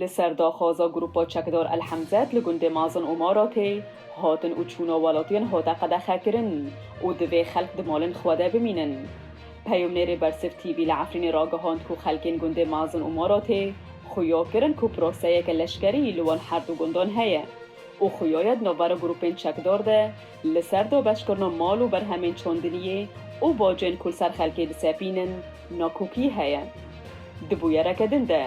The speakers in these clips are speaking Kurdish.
Li ser daxwaza grûpa çekdar El Hemzet li gundê Mazin û Maratê, hatin û çûna welatiyan hate qedexekirin û divê xelk di malên xwe de bimînin. Peyomnêrê Bersif TV li Efrînê ragihand ku xelkên gundê Mazin û Maratê xuya kirin ku proseyeke leşkerî li wan her du gundan heye û xuya ye di navbera grûpên çekdar de, Li ser dobeşkirina mal û berhemên çandiniyê û bacên ku li ser xelkê disepînin nakokî heye. Di bûyereke din de,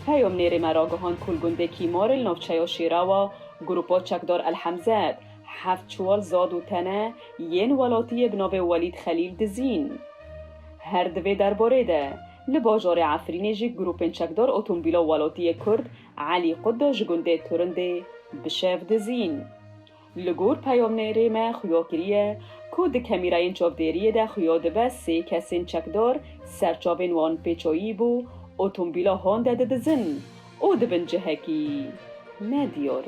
peyamnêrê me ragihand ku li gundê Kîmarê li navçeya Şêrawa grûpa çekdar El Hemzed heft çiwal zad û tene yên welatiyê bi navê Welîd Xelîl dizîn. Her di vê derbarê de, li bajarê Efrînê jî grûpên çekdar otomobîla welatiyê Kurd Elî Qudda ji gundê Turindê bi şev dizîn. Li gor peyomnêrê me xuyo kiriye ku di kemîrayên çavdêriyê de xuyo dibe sê kesên çekdar ser çavên wan pêçoyî bû otombîla Honda didizin û di bin cihekî ne diyar.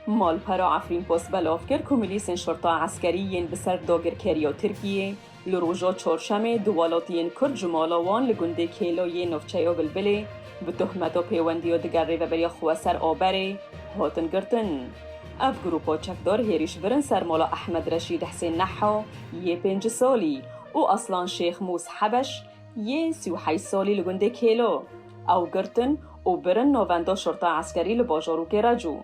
Malpera Efrînpost belav kir ku milîsên şurta eskerî yên bi ser dagirkeriya Tirkiyê, Li roja Çarşemê du welatiyên Kurd ji mala wan li gundê Kêlo yê navçeya Bilbilê bi tohmeta pêwendiya diger Rêveberiya Xweser Aberê hatin girtin. Ev grûpa çekdar hêrîş birin ser mala Ehmed Reşîd Hsên Neha yê pênc salî û Aslan Şêx Mûs Hebeş yê sî û heyş salî li gundê Kêlo. Ew girtin û birin navenda Şurta Eskerî li bajarokê Recu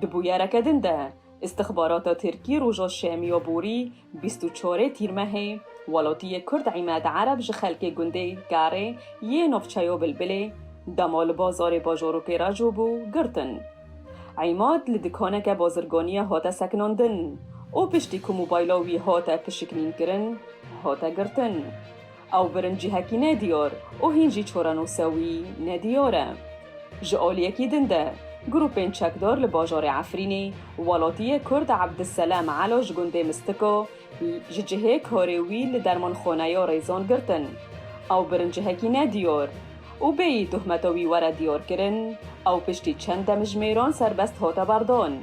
di bûyereke din de. Îstixbarata Tirkî roja şemiya borî bîst û çarê Tîrmehê welatiyê Kurd Îmed Ereb ji xelkê gundê Garê yê navçeya Bilbilê dema li bazarê bajarokê re jo bû girtin. Îmed li dikaneke bazirganiyê hate sekinandin û piştî ku mobayla wî hate pişiknînkirin hate girtin. Ew birincîhekî nediyar û hîn jî çorenûsa wî nediyar e. Ji aliyekî din de, grûpên çekdar li bajarê Efrînê welatiyê Kurd Abdiselam Elo ji gundê Mistika ji cihê karê wî li dermanxaneya Rêzan girtin. Ew birincîhekî nediyar û bêyî tohmeta wî were diyarkirin, ew piştî çend demjimêran serbest hate berdan.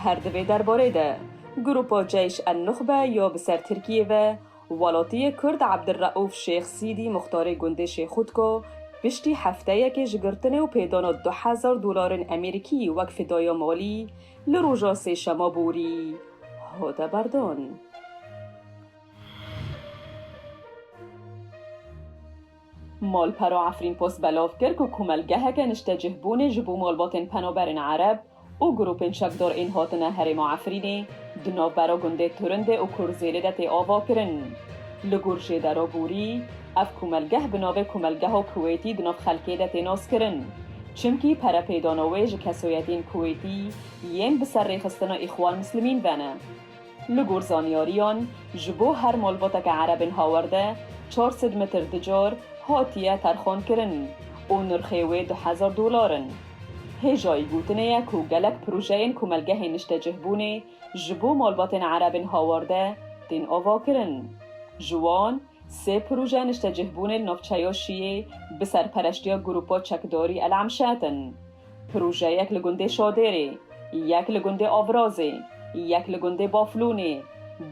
Her di vê derbarê de, grûpa Ceyş en-Nuxbe ya bi ser Tirkiyê ve Welotiyê Kurd Abdulreûf Şêx Sîdî muxtarê gundê Şêxûtko piştî hefteyekê ji girtinê û pêdana du hezar dolarên Amerîkî wek fidaya malî li roja sêşema borî hate berdan. Malpero Efrîn Post belov kir ku komelgeheke niştecihbûnê ji bo malbatên penaberên Ereb û grûpên çekdar ên hatine herêma Efrînê di navbera gundê Turindê û Kurzêlê de tê avakirin. Li gor Jêdero Bûrî, ev komelgeh bi navê Komelgeha Kuwêtî di nav xelkê de tê naskirin. Çimkî perepêdana wê ji kesoyetên Kuwêtî yên bi ser rêxistina Îxwan Muslimîn ve ne. Li gor zanyariyan, ji bo her malbateke erebên hawerde çar sed metr di car hatiye terxankirin û nirxê wê du hezar dolar in. Hêjayî gotinê ye ku gelek projeyên komelgehên niştecihbûnê ji bo malbatên erebên hawarde tên avakirin. Ji wan, sê proje niştecihbûnê li navçeya Şiyê bi serpereştiya grûpa çekdarî El Emşet in. Projeyek li gundê Şadêrê, yek li gundê Avrazê, yek li gundê Baflûnê,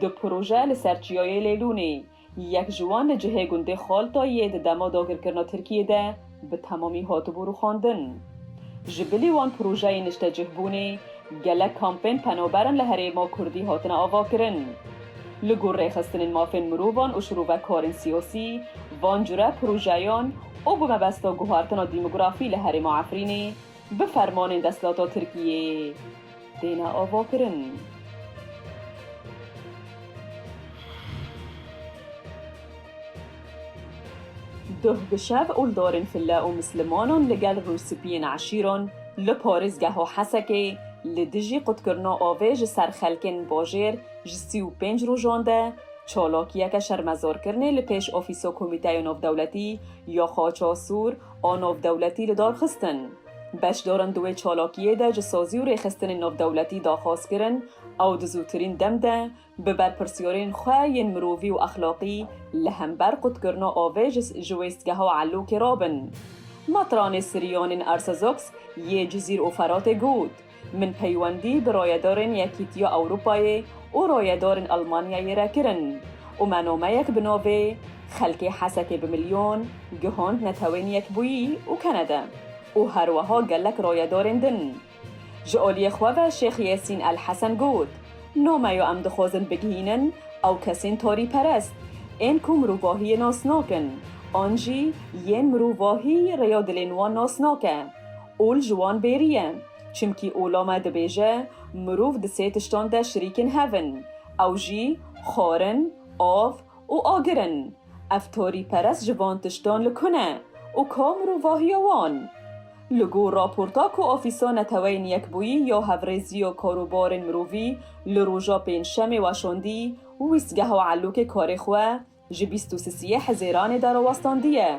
du proje li ser Çiyayê Lêlûnê, yek ji wan li cihê gundê Xaltayiyê di dema dagirkirina Tirkiyê de bi temamî hatibû rûxandin. Ji bilî wan projeyên niştecihbûnê Gelek kampên penoberin li herêma Kurdî hatine avakirin. Li gor rêxistinên mafên mirovan û şirovekarên siyasî, van cure projeyan û bi mebesta guhartina dîmografî li herêma Efrînê bi fermanên desthilata Tirkiyê têne avakirin. Duh bi şev û li dorên file û mislimonan li gel rûspiyên eşîran li parêzgeha Hesekê li dijî qutkirina avê ji ser xelkên bajêr ji sî û pênc rojan de çalakiyeke şermezarkirinê li pêş ofîsa Komîteya Navdewletî ya Qaça Sûr a Navdewletî li dar xistin. Beşdaran di wê çalakiyê de ji sazî û rêxistinên navdewletî daxwaz kirin ew di zûtirîn dem de Bi berpirsîyorên xwe yên mirovî û exlaqî li hember qutkirina avê ji ji wêstgeha Elokê re bin. Matranê Sirîyanên Arsazox yê Cizîr û Feratê got, Min peywendî bi rayedarên Yekîtiya Ewropayê û rayedarên Elmanyayê re kirin û me nameyek bi navê Xelkê Hesekê bi Milyon gihand netewên Yekbûyî û Kanada û herweha gelek rayedarên din. Ji oliyê xwe ve Şêx Yêsîn El Hesen got, Nomeyo em dixwazin bigihînin ew kesên torîperest ên ku mirovahiyê nas nakin an jî yên mirovahî rêya dilên wan nas nake. Ol ji wan bêrî ye. Çimkî ola me dibêje mirov di sê tiştan de şirîkên hev in. Ew jî, xwarin, av û agir in. Ev torîperest ji van tiştan li ku ne û ka mirovahiya wan? Li gor raporta ku Ofîsa Neteweyên Yekbûyî ya Hevrêziya Karobarên Mirovî li roja Pêncşemê weşandî, wîstgeha Elokê karê xwe ji bîst û sisiyê Hizêranê derawestandîye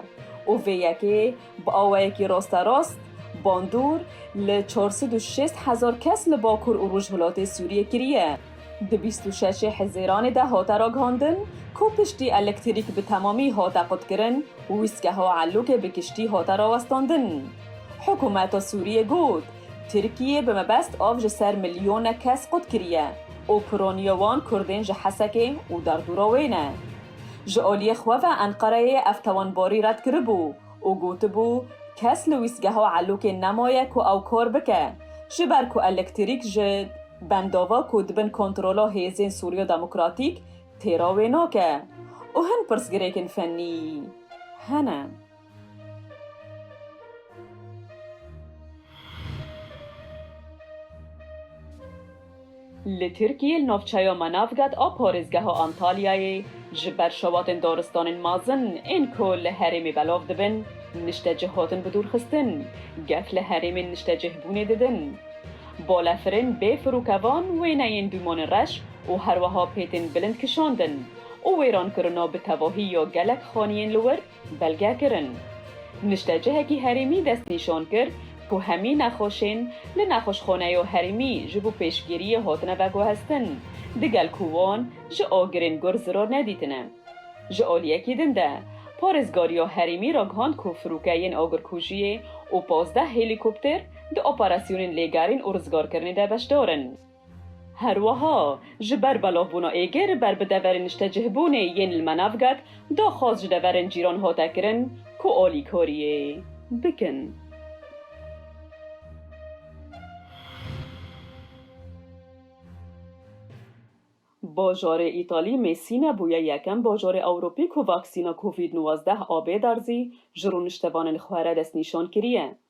û vê yekê Bi awayekî rosterast, bandor li çar sed û şêst hezar kes li bakur û rojhilatê Sûriyê kiriye. Di bîst û şeşê Hizêranê de hate ragihandin ku piştî elektrîk bi temamî hate qutkirin û wîstgeha Elokê bi kiştî hate rawestandin. Hikûmeta Sûriyê got, Tirkiyê bi mebest av ji ser milyonek kes qutkiriye û pironiya wan kurdên ji Hesekê û derdora wê ne. Ji aliyê xwe ve Enqereyê ev tewenbarî red kiribû û gotibû, kes li wîstgeha Elokê nemaye ku ew kar bike, ji ber ku elektrîk ji bendava ku di bin kontrola hêzên Sûriya Demokratîk tê re wê nake û hin pirsgirêkên fennî hene. Li Tirkiyê li navçeya Manavgat a parêzgeha Antalyayê ji ber şewatên daristanên mezin ên ku li herêmê belav dibin niştecih hatin bidûrxistin, gef li herêmên niştecihbûnê didin. Balefirên bê firûkevan, wêneyên dûmanê reş û herweha pêtên bilind kişandin û wêrankirina bi tevahî ya gelek xaniyên li wir Belgekirin, Niştecihekî herêmî destnîşan kir ku hemî nexweşên li Nexweşxaneyo Herêmî ji bo pêşgiriyê hatine veguhestin, digel ku wan ji agirên gur zirar nedîtine. Ji aliyekî din de, Parêzgariya Herêmî ragihand ku firûke yên agirkujiyê û pazdeh helîkopter di operasyonên lêgerîn û rizgarkirinê de beşdar in. Herwiha, ji ber belavbûna êgir ber bi deverên niştecihbûnê yên li Manavgat, daxwaz ji deverên cîran hate kirin ku alîkariyê bikin. Bajarê Îtalî Mêsîne bûye yekem bajarê Ewropî ku vaksîna Covid nwazdeh a bêderzî ji rûniştevanên xwe re destnîşan kiriye.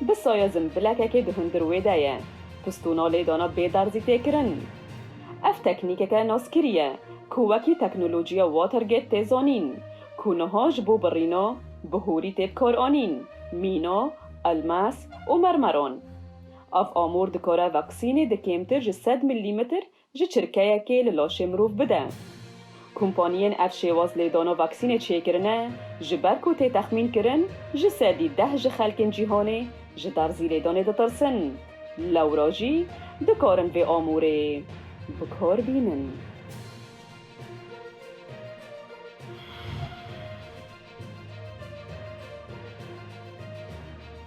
Bi sayezim bilekekê di hundir wê de ye. Pistûna lêdana bê derzî tê kirin. Ev teknîkeke naskirî ye ku wekî teknolojiya Watergate tê zanîn ku niha ji bo birîna bi hûrî tê bikaranîn, mîna, elmas û mermeran. Ev amûr dikare vaksînê di kêmtir ji sed milîmetr Ji çirkeyekê li laşê mirov bide. Kompaniyên ev şêwaz lêdana vaksînê çêkirine, ji ber ku tê texmîn kirin ji sedî deh ji xelkên cîhanê ji derzî lêdanê ditirsin. Lewra jî dikarin vê amûrê bi kar bînin.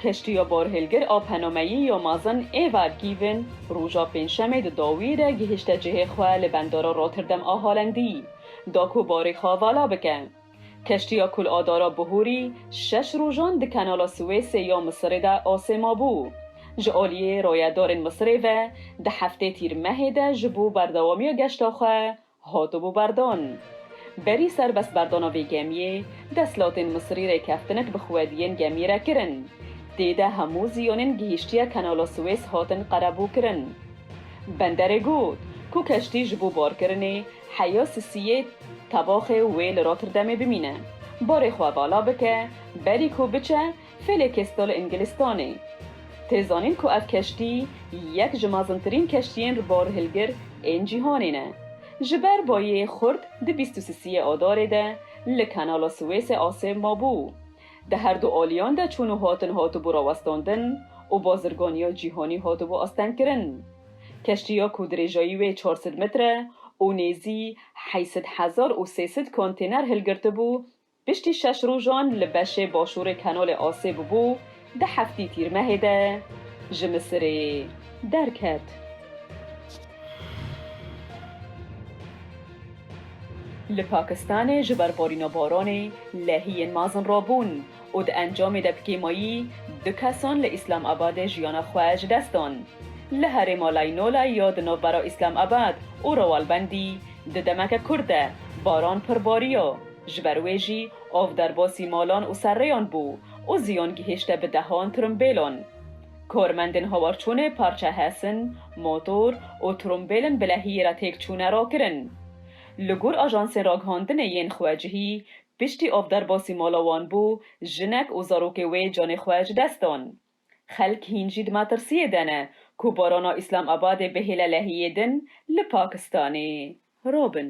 Keştiya borhêlgir a penomeyî ya mazin Eva Given roja pêncşemê di dawî de gihişte cihê xwe li bendara Rotterdam a Holendî da ku barê xwe vala bike. Keştiya ku li adara bihûrî şeş rojan di kenala Suêsê ya Misirê de asê mabû, ji aliyê rayedarên Misirê ve di heftê Tîrmehê de ji bo berdewamiya geşta xwe Hatibû berdan. Berî serbest berdana vê gemiyê, deshilatên Misirî rêkeftinek bi xwediyên gemiyê re kirin. Tê de hemû ziyonên gihîştiya Kenala Suwês hatin qerebûkirin. Benderê got ku keştî ji bo barkirinê heya Sisiyê tebaxê wê li Rotterdamê bimîne. Barê xwe vala bike, berî ku biçe Felekestal li Îngilistanê. Tê zanîn ku ev keştî yek ji mezintirîn keştiyên li barhilgir ên cîhanê ne. Ji ber bayê xurt di bîst û sisiyê Adarê de li Kenala Siwêsê asê mabû. Di her du aliyan de çûn û hatin hatibû rawestandin û bazirganiya cîhanî hatibû astengkirin. Keştiya ku dirêjayî wê çar sed metre û nêzî heyşt hezar û sê sed kontêner hilgirtibû Piştî şeş rojan li beşê başûrê Kenolê Asê bûbû, di heftî Tîrmehê de ji Misirê derket. Li Pakistanê ji ber barîna baranê lehiyên mezin rabûn û di encamê de bi kêmayî du kesan li Îslamabadê jiyana xwe ji dest dan. Li herêma Laynolay ya di navbera Îslamabad û Rawalbendî di demeke kurt de baran pir bariya. Ji ber wê jî ov derbasî malan û serrêyan bû û ziyan gihîşte bi dehan trumbêlan. Karmendên hawarçûnê parça hesin, motor û trumbêlên bilehiyê re têk çûne rakirin. Li gor ajansên ragihandinê yên xwe cihî, piştî ov derbasî mala wan bû, jinek û zarokê wê canê xwe ji dest dan. Xelk hîn jî di metirsiyê de ne ku barana Îslam Abadê bihêle lehiyê din li Pakistanê rabin.